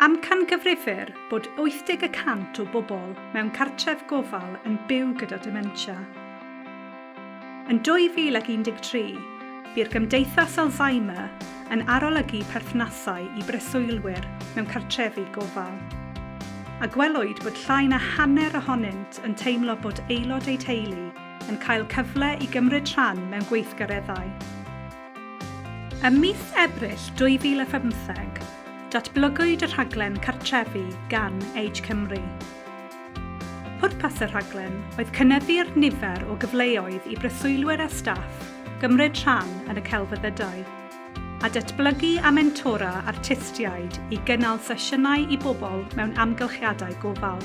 Amcangyfrifir bod 80 y cant o bobl mewn cartref gofal yn byw gyda dementia. Yn 2013, bu'r Gymdeithas Alzheimer yn arolygu perthnasau i breswylwyr mewn cartrefi gofal, a gwelwyd bod llai na hanner ohonynt yn teimlo bod aelod eu teulu yn cael cyfle i gymryd rhan mewn gweithgareddau. Ym mis Ebrill 2017, datblygwyd y rhaglen Cartrefi gan Age Cymru. Pwrpas y rhaglen oedd cynyddu'r nifer o gyfleoedd i breswylwyr a staff gymryd rhan yn y celfyddydau, a datblygu a mentora artistiaid i gynnal sesiynau i bobl mewn amgylchiadau gofal.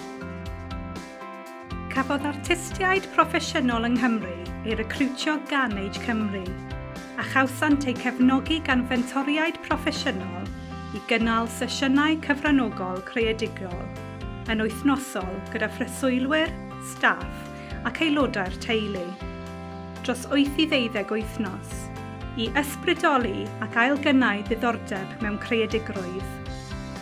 Cafodd artistiaid proffesiynol yng Nghymru ei recriwtio gan Age Cymru, a chawsant eu cefnogi gan fentoriaid proffesiynol i gynnal sesiynau cyfranogol creadigol yn wythnosol gyda phreswylwyr, staff ac aelodau'r teulu, dros wyth i ddeuddeg wythnos, i ysbrydoli ac ailgynnau ddiddordeb mewn creadigrwydd.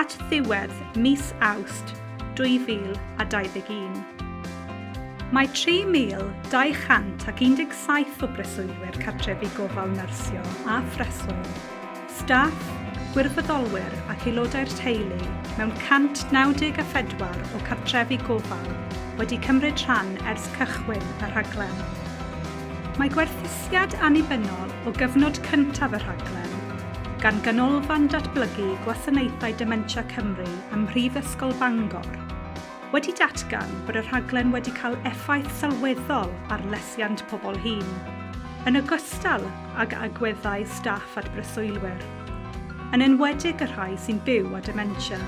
at ddiwedd mis Awst 2021. Mae 3,217 o breswylwyr cartrefi gofal nyrsio a phreswyl, staff, gwirfoddolwyr ac aelodau'r teulu mewn 194 o cartrefi gofal wedi cymryd rhan ers cychwyn y rhaglen. Mae gwerthusiad annibynnol o gyfnod cyntaf y rhaglen, gan Ganolfan Datblygu Gwasanaethau Dementia Cymru ym Mhrifysgol Bangor, wedi datgan bod y rhaglen wedi cael effaith sylweddol ar lesiant pobl hŷn, yn ogystal ag agweddau staff at breswylwyr, yn enwedig y rhai sy'n byw â dementia.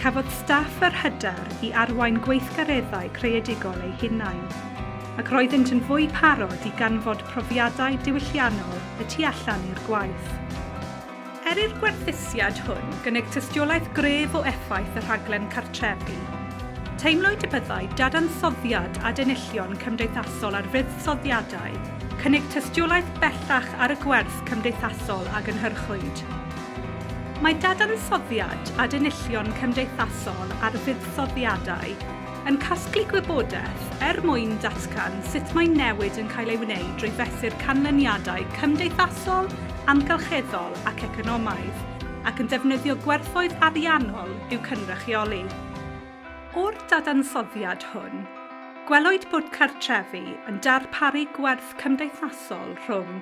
Cafodd staff yr hyder i arwain gweithgareddau creadigol eu hunain, ac roeddynt yn fwy parod i ganfod profiadau diwylliannol y tu allan i'r gwaith. Er i'r gwerthusiad hwn gynnig tystiolaeth gref o effaith y rhaglen cartrefi, teimlwyd y byddai dadansoddiad adenillion cymdeithasol ar fuddsoddiadau cynnig tystiolaeth bellach ar y gwerth cymdeithasol a gynhyrchwyd. Mae dadansoddiad adennillion cymdeithasol ar fuddsoddiadau yn casglu gwybodaeth er mwyn datgan sut mae newid yn cael ei wneud drwy fesur canlyniadau cymdeithasol, amgylcheddol ac economaidd, ac yn defnyddio gwerthoedd ariannol i'w cynrychioli. O'r dadansoddiad hwn, gwelwyd bod cartrefi yn darparu gwerth cymdeithasol rhwng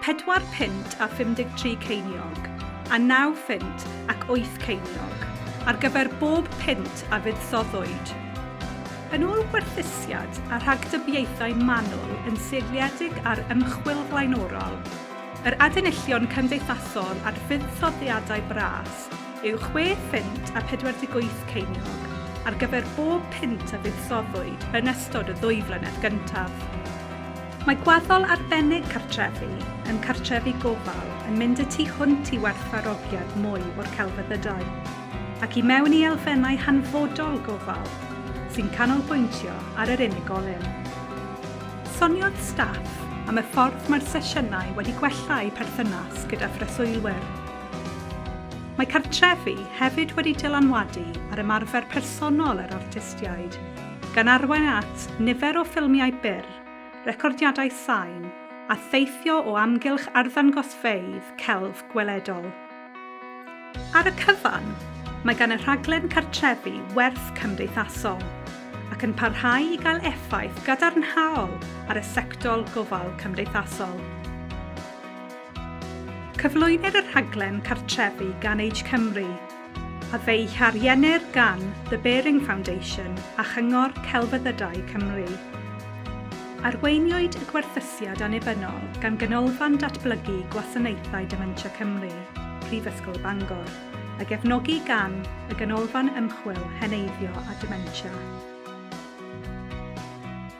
pedwar punt a 53 ceiniog a naw phunt ac wyth ceiniog ar gyfer bob punt a fuddsoddwyd. Yn ôl gwerthusiad a rhagdybiaethau manwl yn seiliedig ar ymchwil flaenorol, yr adenillion cymdeithasol a'r fuddsoddiadau bras, yw chwe phunt a 48 ceiniog ar gyfer bob punt a fuddsoddwyd yn ystod y ddwy flynedd gyntaf. Mae gwaddol arbennig cartrefi yn cartrefi gofal yn mynd y tu hwnt i werthfawrogiad mwy o'r celfyddydau, ac i mewn i elfennau hanfodol gofal sy'n canolbwyntio ar yr unigolyn. Soniodd staff am y ffordd mae'r sesiynau wedi gwella eu perthynas gyda phreswylwyr, Mae cartrefi hefyd wedi dylanwadu ar ymarfer personol yr artistiaid, gan arwain at nifer o ffilmiau byr, recordiadau sain, a theithio o amgylch arddangosfeydd celf gweledol. Ar y cyfan, mae gan y rhaglen cartrefi werth cymdeithasol, ac yn parhau i gael effaith gadarnhaol ar y sector gofal cymdeithasol. Cyflwynir y rhaglen cartrefi gan Age Cymru, a fe'i hariennir gan The Baring Foundation a Chyngor Celfyddydau Cymru. Arweiniwyd y gwerthusiad annibynnol gan Ganolfan Datblygu Gwasanaethau Dementia Cymru, Prifysgol Bangor, a gefnogi gan y Ganolfan Ymchwil Heneiddio a Dementia.